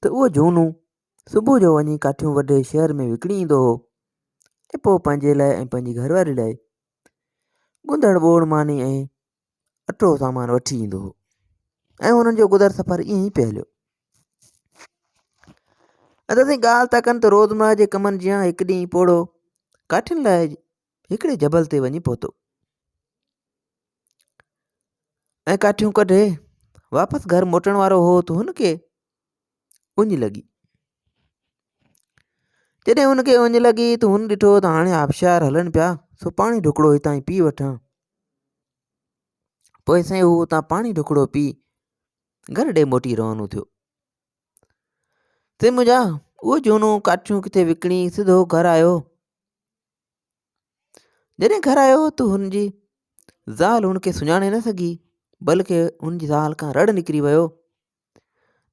ته اهو جهونو صبح جو وڃي ڪاٺيون وڍي شهر ۾ وڪڻي ايندو هو ۽ پوء پنهنجي لاء ۽ پنهنجي گهر واري لاء ڳنڌڙ ٻوڙ ماني ۽ اٽو سامان وٺي ايندو هو ۽ هنن جو گذر سفر ائين ئي پئي هليو ادا سائين ڳالهه ٿا ڪن ته روزمرا جي ڪمن جيان هڪ ڏينهن پوڙهو ڪاٺين لاء هڪڙي جبل تي وڃي پهتو ۽ ڪاٺيون ڪڍي واپس گهر موٽڻ وارو هو ته هن کي اڃ لڳي جڏهن هن کي اڃ لڳي ته هن ڏٺو ته هاڻي آبشار هلن پيا سو پاڻي ڍڪڙو هتان ئي پي وٺان پوء سائين هو هتان پاڻي ڍڪڙو پي گهر ڏي موٽي روانو ٿيو سي منهنجا اهو جهونو ڪاٺيون ڪٿي وڪڻي سڌو گهر آيو جڏهن گهر آيو ته هن جي زال هن کي سڃاڻي نه سگهي بلڪ هن جي زال کان رڙ نڪري ويو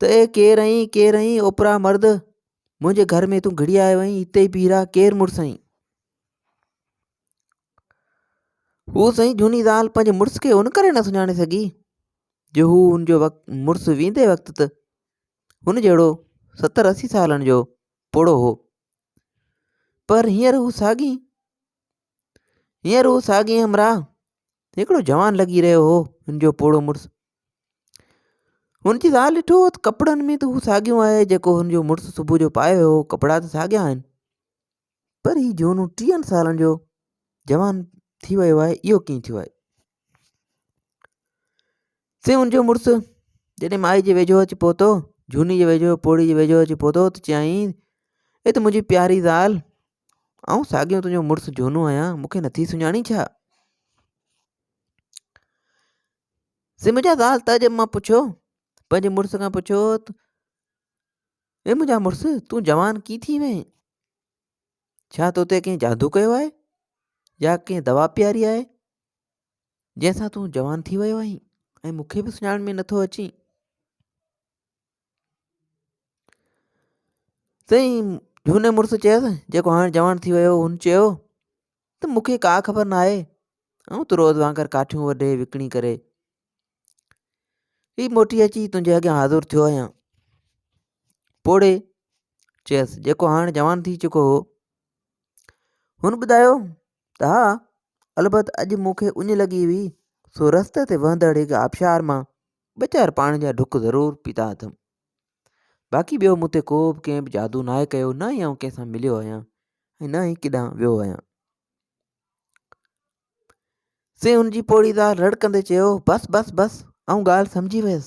ته اي ڪير ائين ڪير ائين اوپرا مرد منهنجي گهر ۾ تون گهڙي آيو ائين هتي پي رها ڪير مڙس ائين هو سائين جهوني زال پنهنجي مڙس کي ان ڪري نه سڃاڻي سگهي جو هو هن جو وقت مڙس ويندي وقت ته هن جهڙو ستر اسي سالن جو پوڙهو هو پر هينئر هو ساڳي هينئر هو ساڳي همراهه هڪڙو جوان لڳي رهيو هو هن جو پوڙهو مڙس هن جي زال ڏٺو هو ته ڪپڙن ۾ ته هو ساڳيو آهي جيڪو هن جو مڙس صبح جو پايو هو ڪپڙا ته ساڳيا آهن پر هي جهونو ٽيهن سالن جو جوان ٿي ويو آهي اهو ڪيئن ٿيو آهي سائين ان جو مڙس جڏهن مائي جي ويجهو اچي پهتو جهوني جي ويجهو پوڙهي جي ويجهو اچي پهتو ته چيائين اي ته منهنجي پياري زال آئون ساڳيو تنهنجو مڙس جهونو آهيان مونکي نٿي سڃاڻين ڇا سي منهنجا زال تعجب مان پڇيو پنهنجي مڙس کان پڇيو اي منهنجا مڙس تون جوان ڪي ٿي وئين ڇا تو تي ڪنهن جادو ڪيو آهي يا ڪنهن دوا پياري آهي جنهن سان تون جوان ٿي ويو آهين ۽ مون کي به سڃاڻ ۾ نٿو اچين سائين جھوني مڙس چيس جيڪو هاڻ جوان ٿي ويو هن چيو ته مون کي ڪا خبر نه آهي آئون ته روز وانگر ڪاٺيون وڍي وڪڻي ڪري هي موٽي اچي تنهنجي اڳيان حاضر ٿيو آهيان پوڙي چيس جيڪو هاڻ جوان ٿي چڪو هو هن ٻڌايو ته ها، البت اڄ مون کي اڃ لڳي هئي، سو رستي تي وهندڙ هڪ آبشار مان ٻه چار پاڻي جا ڍڪ ضرور پيتا اٿم. باقي ٻيو مون تي ڪو به ڪنهن به جادو ناهي ڪيو، نه ئي آئون ڪنهن سان مليو آهيان ۽ نه ئي ڪيڏانهن ويو آهيان. سي هن جي پوڙهي زال رڙ ڪندي چيو، بس بس بس، آئون ڳالهه سمجهي ويس.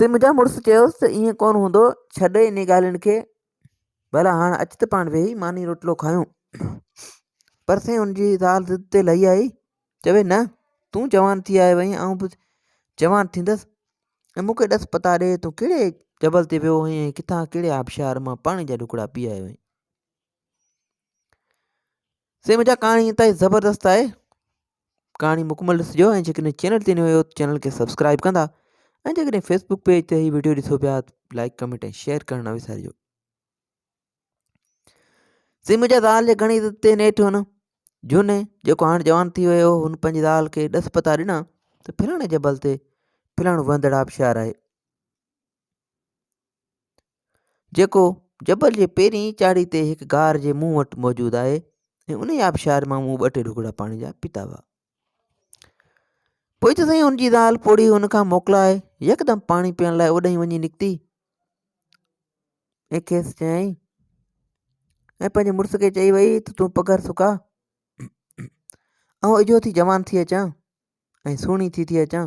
تي منهنجا مڙس چيوس ته ائين ڪونه هوندو ڇڏ انهي ڳالهين کي ڀلا هاڻ اچ ته پاڻ ويهي ماني روٽلو کايون پر سائين ان جي زال ضد تي لهي آئي چوي نه تون جوان ٿي آيو آهين آئون به جوان ٿيندس ۽ مون کي ڏس پتا ڏي تون ڪهڙي جبل تي ويو هئين ۽ ڪٿان ڪهڙي آبشار مان پاڻي جا ڍڪڙا پي آيو آهين سي منهنجا ڪهاڻي اتائي زبردست آهي ڪهاڻي مڪمل ڏسجو ۽ جيڪڏهن چينل تي نيو آهيو ته چينل کي سبسڪرائب ڪندا ۽ جيڪڏهن فيسبوڪ پيج تي هي ويڊيو ڏسو پيا لائڪ ڪمينٽ ۽ شيئر ڪرڻ نه وسارجو سي منهنجا زال جي گھڻي عزت تي نيٺ هن جون جيڪو هاڻ جوان ٿي ويو هن پنهنجي زال کي ڏس پتا ڏنا ته پھلاڻي جبل تي پھلاڻو وهندڙ آبشار آهي جيڪو جبل جي پهرين چاڙهي تي هڪ غار جي منهن وٽ موجود آهي ۽ ان ئي آبشار مان مون ٻه ٽي ڍوڪڙا پاڻي جا پيتا هئا پوء ته سائين هن جي زال پوڙهي هن کان موڪلائي يڪدم پاڻي پيئڻ لاء اوڏانهن وڃي نڪتي ۽ کيس چيائين ۽ پنهنجي مڙس کي چئي وئي ته تون پگهر سڪا آئون اجهو ٿي جوان ٿي اچان ۽ سهڻي ٿي ٿي اچان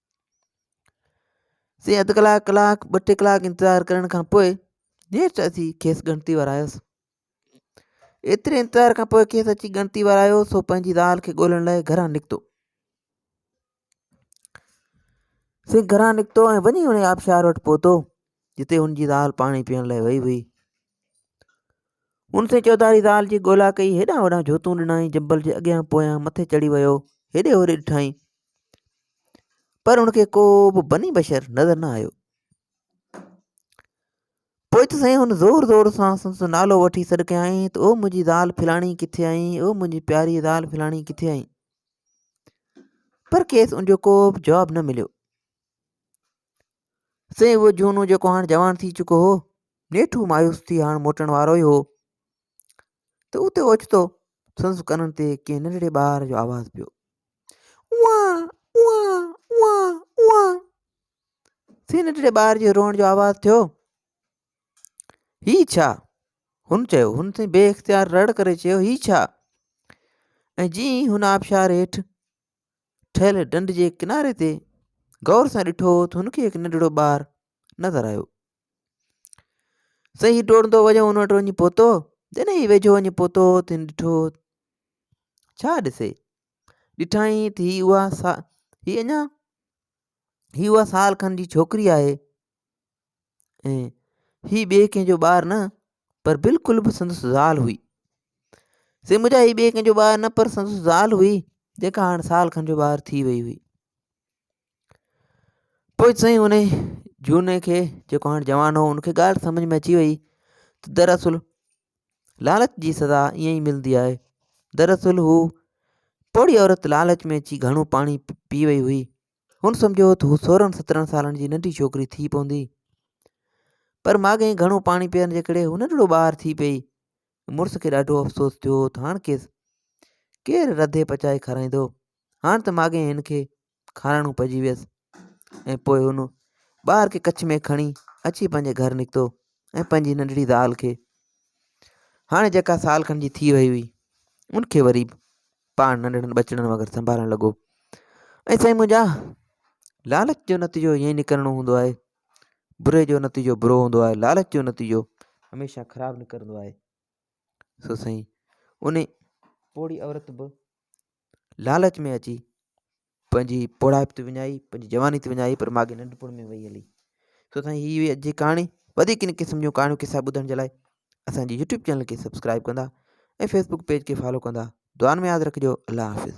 سي اڌ ڪلاڪ ڪلاڪ ٻه ٽي ڪلاڪ انتظار ڪرڻ کان پوء نيٺ اچي کيس ڳڻتي ورايس ايتري انتظار کان پوء کيس اچي ڳڻتي ورايو سو پنهنجي زال کي ڳولڻ لاء گھران نڪتو سي گھران نڪتو ۽ وڃي ان آبشار وٽ پهتو جتي ان جي زال پاڻي پيئڻ لاء وئي هئي ان سين چوڌاري زال جي ڳولا ڪئي، هيڏانهن هوڏانهن جوتون ڏنائين، جبل جي اڳيان پويان مٿي چڙهي ويو، هيڏي هوري ڏٺائين، پر هن کي ڪو به بني بشر نظر نه آيو. پوء ته سائين هن زور زور سان سندس نالو وٺي سڏ ڪيائين ته او منهنجي زال ڦلاڻي ڪٿي آهين، او منهنجي پياري زال ڦلاڻي ڪٿي آهين؟ پر کيس ان جو ڪو به جواب نه مليو. سائين اهو جهونو جيڪو هاڻ جوان ٿي چڪو هو نيٺو مايوس ٿي هاڻ موٽڻ وارو ئي هو ته اتي اوچتو سندس ڪنن تي ڪنهن ننڍڙي ٻار جو آواز پيو سائين ننڍڙي ٻار جي روئڻ جو آواز ٿيو هي ڇا هن چيو هن سائين بي اختيار رڙ ڪري چيو هي ڇا ۽ جي هن آبشار هيٺ ٺهيل ڍنڍ جي ڪناري تي غور سان ڏٺو ته هن کي هڪ ننڍڙو ٻار نظر آيو صحيح ڊوڙندو وڃو هن وٽ وڃي پهتو جڏهن هي ويجهو وڃي پهتو ته هن ڏٺو ڇا ڏسي ڏٺائين ته هي اها سا هي اڃا هي اها سال کن جي ڇوڪري آهي ۽ هي ٻئي ڪنهن جو ٻار نه پر بلڪل به سندس زال هئي سي مون چيو هي ٻئي ڪنهن جو ٻار نه پر سندس زال هئي جيڪا هاڻ سال کن جو ٻار ٿي وئي هئي پوء سائين ان جھوني کي جيڪو هاڻ جوان هو ان کي ڳالهه سمجھ ۾ اچي وئي ته دراصل لالچ جي سزا ائين ئي ملندي آهي دراصل هو پوڙهي عورت لالچ ۾ اچي گهڻو پاڻي پي وئي هئي هن سمجهيو هو ته هو سورهن سترهن سالن جي ننڍي ڇوڪري ٿي پوندي پر ماڳهين گهڻو پاڻي پيئڻ جي ڪري هو ننڍڙو ٻار ٿي پئي مڙس کي ڏاڍو افسوس ٿيو هو ته هاڻ کيس ڪير رڌي پچائي کارائيندو هاڻ ته ماڳهين هن کي کارائڻو پئجي ويس ۽ پوء هن ٻار کي ڪڇ ۾ کڻي اچي پنهنجي گهر نڪتو ۽ پنهنجي ننڍڙي زال کي هاڻي جيڪا سال کن جي ٿي وئي هئي ان کي وري پاڻ ننڍڙن ٻچڙن وانگر سنڀالڻ لڳو ۽ سائين منهنجا لالچ جو نتيجو ائين ئي نڪرڻو هوندو آهي بري جو نتيجو برو هوندو آهي لالچ جو نتيجو هميشه خراب نڪرندو آهي سو سائين ان پوڙهي عورت به لالچ ۾ اچي پنهنجي پوڙهائپ تي وڃائي پنهنجي جواني تي وڃائي پر ماڳهين ننڍپڻ ۾ وئي هلي سو سائين هي هئي اڄ جي ڪهاڻي وڌيڪ ان قسم جون ڪهاڻيون قصا ٻڌڻ جي لاء اسانجي يوٽيوب چينل کي سبسڪرائب ڪندا ۽ فيسبوڪ پيج کي فالو ڪندا دعان ۾ ياد رکجو الله حافظ